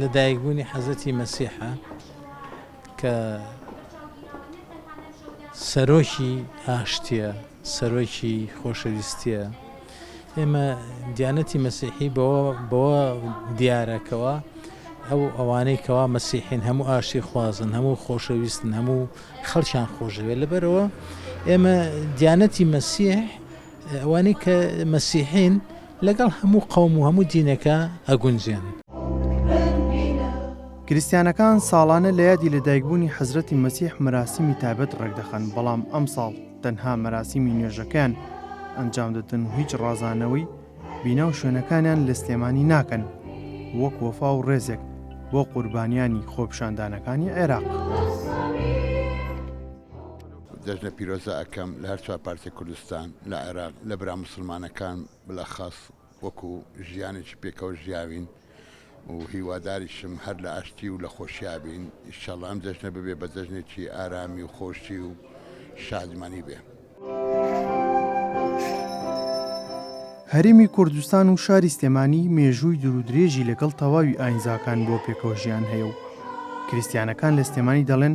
لەدایکبوونی حەزرەتی مەسیحە کە سەرۆکی ئاشتیە سەرۆکی خۆشەویستیە ئێمە دیانەتی مەسیحی بەوە بەوە دیارەکەوە ئەو ئەوانەی کەوا مەسیحین هەموو ئاشتی خوازن هەموو خۆشەویستن هەموو خەڵکیان خۆشەوێت لەبەرەوە ئێمە دیانەتی مەسیح ئەوانەی کە مەسیحین لەگەڵ هەموو قەوم و هەموو دینێکا ئەگونجێن. کریستیانەکان ساڵانە لە یادی لەدایکبوونی حەزرەتی مەسیح مەراسیمی تایبەت ڕێکدەخەن بەڵام ئەمساڵ تەنها مەراسیمی نوێژەکەیان ئەنجام دەدەن و هیچ ڕازانەوەی بینا و شوێنەکانیان لە سلێمانی ناکەن وەک وەفا و ڕێزێک بۆ قوربانیانی خۆپیشاندانەکانی عێراق. جەژنە پیرۆزە ئەکەم لە هەر چوار پارچەی کوردستان لە عێراق لە برا موسڵمانەکان بلەخەس وەکو ژیانێکی پێکەوە ژیاوین و هیواداریشم هەر لە ئاشتی و لە خۆشیا بین ئیشەڵا ئەم جەژنە ببێ بە جەژنێکی ئارامی و خۆشی و شادمانی بێ. هەرێمی کوردستان و شاری سلێمانی مێژووی دورودرێژی لەگەڵ تەواوی ئاینزاکان بۆ پێکەوە ژیان هەیە و کریستیانەکان لە سلێمانی دەڵێن،